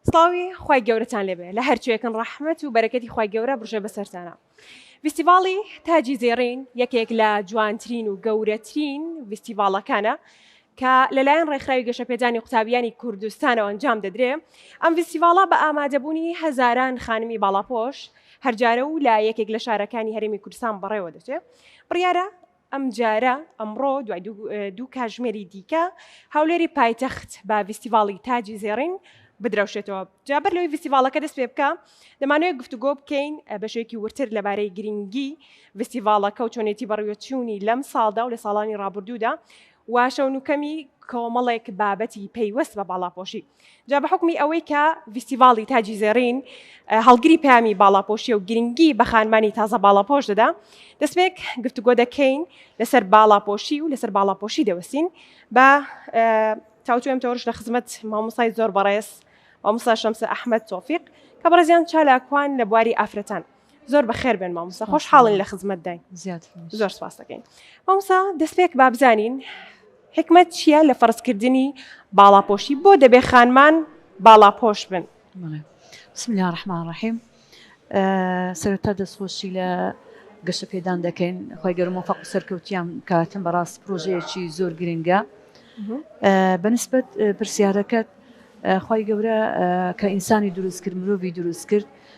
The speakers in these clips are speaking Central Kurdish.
سڵاوی خوای گەورەتان لێبێ لە هەرچێکن ڕەحمەت و بەرەکەتی خوای گەورە بڕژێ بەسەرتانە. ڤیستیڤاڵی تاجی زێڕین یەکێک لە جوانترین و گەورەترین ڤیستیڤاڵەکانە کە لەلایەن ڕێکخراوی گەشەپێدانی قوتابیانی کوردستانەوە ئەنجام دەدرێ ئەم ڤیستیڤاڵە بە ئامادەبوونی هەزاران خانمی باڵاپۆش هەرجارە و لە یەکێک لە شارەکانی هەرێمی کوردستان بەڕێوە دەچێ بڕیارە ئەمجارە، ئەمڕۆ، دوای دوو کاژمێری دیکە، هەولێری پایتەخت بە ڤیستیڤاڵی تاجی زێڕین بدرەوشێتەوە. جا بەر لەوەی ڤیستیڤاڵەکە دەست پێ بکا، دەمانەوێت گفتوگۆ بکەین بە شێوەیەکی وردتر لەبارەی گرینگی ڤیستیڤاڵەکە و چۆنێتی بەڕیوەچوونی لەم ساڵدا و لە ساڵانی ڕابوردوودا و شەونوکەمی کۆمەڵێک بابەتی پەیوەست بە باڵاپۆشی. جا بە حوکمی ئەوەی کە ڤیستیڤاڵی تاجی زێڕین هەڵگری پامی باڵاپۆشیە و گرنگی بە خانمانی تازە باڵاپۆش دەدا دەستێک گفتوگۆ دەکەین لەسەر باڵاپۆشی و لەسەر باڵاپۆشی دەوەستین بە تاوتوێم تۆرش لە خزمەت مامۆسای زۆر بەڕێز مامۆسا شەمسە ئەحمد تۆفیق کە بەڕێزیان چالاکوان لە بواری ئافرەتان زۆر بەخێر بێن مامۆستا خۆش حاڵین لە خزمەت داین زۆر سپاس دەکەین مامۆسا دەستپێک با بزانین حکمت چییە لە فەرزکردنی باڵاپۆشی بۆ دەبێ خانمان باڵاپۆش بن بسم الله الرحمن الرحیم سەرتا دەستخۆشی لە گەشە پێدان دەکەین خۆی گەرمۆ فەق سەرکەوتیان کاتن بەڕاست پرۆژەیەکی زۆر گرنگە بەنسبت پرسیارەکەت خی گەورە کە ئینسانی دروست کرد مرۆڤی دروست کرد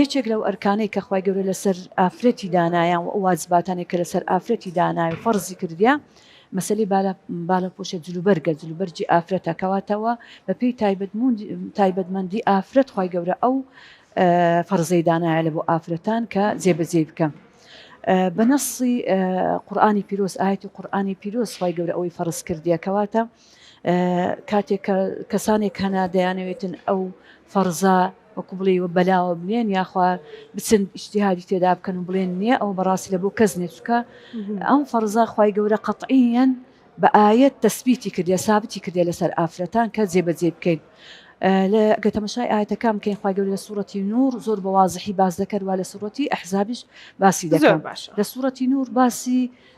یەکێک لەو ئەرکانەی کە خوای گەورە لەسەر ئافرەتی دانایان وئەو واجباتانەی کە لەسەر ئافرەتی داناوی فەڕزی کردیە مەسەلەی بالا بالا پۆشە جلوبەرگە جلوبەرگی ئافرەتە کەواتە وە بەپێی تایبەت موند تایبەت مەندی ئافرەت خوای گەورە ئەو فەڕزەی دانایە لەبۆ ئافرەتان کە جێبەجێی بکەن بەنەسی قورآانی پیرۆز ئاەتی قورآانی پیرۆز خوای گەورە ئەوەی فەڕز کردیە کەواتە کاتێک کە کەسانێک هەنا دەیانەوێتن ئەو فەرزا وەکو بڵێ وە بەلاوە بنێن یاخوا بچن ئیشتیهادی تێدا بکەن و بڵێن نییە ئەو بەڕاستی لە بۆ کەس نێچکە ئەم فەرزا خی گەورە قەتعیەن بە ئاەت تەسبیتی کردێ سابتی کردێ لەسەر ئافرەتان کە جێبەجێ بکەین. لە گەتەمەشای ئاەتەکان بکەین خخوای گەور لە سوورەتی نور زۆر بە وازحی باز دەکەروا لە سوورەتی ئەحزابیش باسی دەکەن لە سوورەتی نور باسی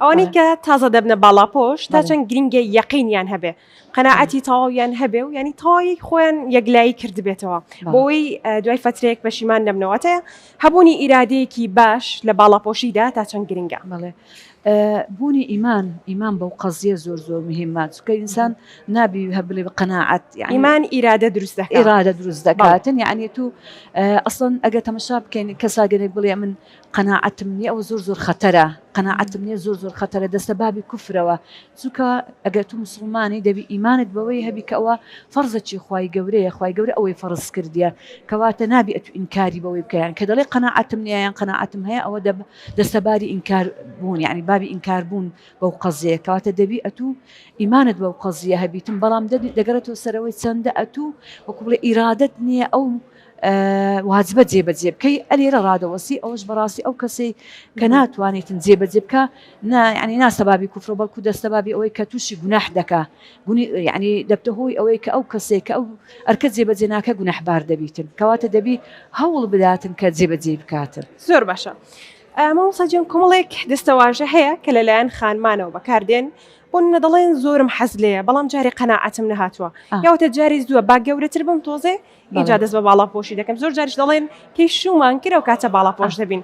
ئەوانەی کە تازە دەبنە باڵاپۆش تا چەند گرینگە یەقینیان هەبێ قەنەعەتی تەواویان هەبێ و ینی تەواوی خۆیان یەکلایی کردبێتەوە بۆی دوای فترێک پەشیمان نەبنەوەتەیە هەبوونی ئیرادەیەکی باش لە باڵاپۆشیدا تا چەند گرنگە بڵێ بوونی ئیمان ئیمان بەو قەزیە زۆر زۆر مهمە چکە ئینسان نابی هە بڵێ بە قەنەعەت ئیمان ئیرادە دروست ئێرادە دروست دەکاتن یعنی تو ئەسڵن ئەگە تەمەشا بکەین کەساگەێک بڵێ من قەناعەتم نیە ئەوە زۆر زۆر خەتەرە قەناعەتم نیە زۆر زۆر خەتەرە دەستە بابی کوفرەوە چونکە ئەگەر تو موسڵمانی دەبی ئیمانت بەوەی هەبی کە ئەوە فەرزەکی خوای گەورەیە خوای گەورە ئەوەی فەرز کردیە کەواتە نابی ئەتو ئینکاری بەوەی بکە یان کە دەڵێ قەناعەتم نیە یان قەناعەتم هەیە ئەوە دەب دەستە باری ئینکار بوون یعنی بابی ئینکار بوون بەو قەزیە کەواتە دەبی ئەتو ئیمانت بەو قەزیە هەبیتم بەڵام دەبی دەگەڕێتەوە سەرەوەی چەندە ئەتو وەکو بڵێ ئیرادەت نیە ئەو واجبە جێبەجێ بکەی ئەلی لە ڕادەوەسی ئەوش بەڕاستی ئەو کەسەی کە ناتوانیتن جێبەجێ بکە ینی ناسەبابی کوفرۆ بەڵکو دەستەبابی ئەوەی کە تووشی گوناح دەکا گونی ینی دەبتە هۆی ئەوەی کە ئەو کەسێک کە ئەو ئەرکە جێبەجێ ناکە گونەحبار دەبیتن کەواتە دەبی هەوڵ بداتن کە جێبەجێ بکاتن زۆر باشە. مامۆساجان کۆمەڵێک دەستەواژە هەیە کە لەلایەن خانمانەوە بەکاردێن بۆ منە دەڵێن زۆرم حەز لەیە بەڵام جارێ قەنەعەتم نەهاتووە یاوتە جاری زووە با گەورەتر بم تۆزێ ئینجا دەست بە باڵاپۆشی دەکەم زۆر جاریش دەڵێن پێی شومان کرە و کاتە باڵاپۆش دەبین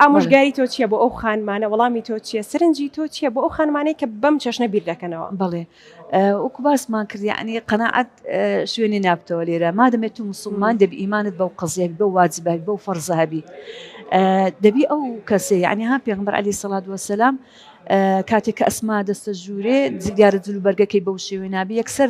ئامۆژگاری تۆ چییە بۆ ئەو خانمانە وەڵامی تۆ چییە سرنجی تۆ چییە بۆ ئەو خانمانەی کە بەم چەشنە بیر دەکەنەوە بڵێ وەکو باسمان کردی ئەنی قەنەعات شوێنی نابتەوە لێرە مادەمێت تو مسلمان دەبی ئیمانت بەو قزیێک بە واجبەک بەو فەرزەهبی دەبی ئەو کەسێ ینی ها پێغمبەر علی سەڵات وەسەسلام کاتێک کە ئەسما دەستە ژوورێ زیگارە جلوبەرگەکەی بەو شێوێ نابی یەکسەر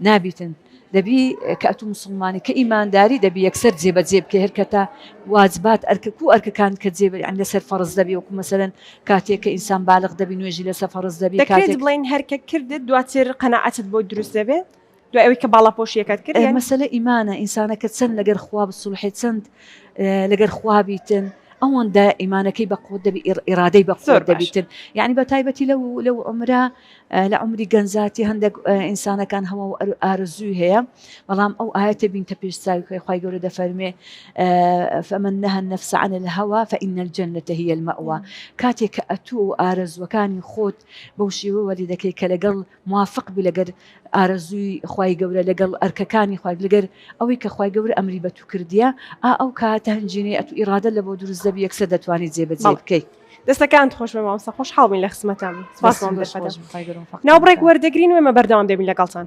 نابیتن دەبی کە ئەتو موسڵمانی کە ئیمانداری دەبی یەکسەر جێ بە جێ بکەی هەرکەتا واجبات ئەرکە کو ئەرکەکان کە جێ بە لەسەر فەڕز دەبی وەکو مەسەلەن کاتێک کە ئینسان بالغ دەبی نوێژی لەسە فەڕز دەبی دەکرێت بڵێین هەرکە کردت دواتر قەناعەتت بۆ دروست دەبێ دوای ئەوی کە باڵاپۆشیەکەت کرد یانی. مەسەلە ئیمانە ئینسانەکە چەند لەگەر خوا بسوڵحێ چەند لەگەر خوا بیتن ئەوەندە ئیمانەکەی بە قوت دەبی ئیرادەی بە زۆر دەبیتن یانی بە تایبەتی لەو لەو عومرە لە عومری گەنجاتی هەندەک ئینسانەکان هەوە و ئارەزووی هەیە بەڵام ئەو ئاەتە بینتە پێش چاوی خۆی خی گەورە دەفەرمێ فەمن نەهە نەفسعان لە هەوا فەئینە جەنەتە هیە المەوە کاتێک کە ئەتوو و ئارەزوەکانی خۆت بەو شێوە وەلی دەکەی کە لەگەڵ موافق بی لەگەر ئارەزووی خی گەورە لەگەڵ ئەرکەکانی خی لەگەر ئەوەی کە خی گەورە ئەمری بە تو کردیە ئا ئەو کاتە هەنجینەی ئەتو ئیرادە لە بۆ دروست دەبی یەکسەر دەتوانانی جێبەجێ بکەیت. دەستەکانت خۆش بێ مامۆستا خۆشحاڵ بووین لە خزمەتتان بووین سوپاسمان بۆ سەردەم ناوبڕێک وەردەگرین و ئێمە بەردەوام دەبین لەگەڵتان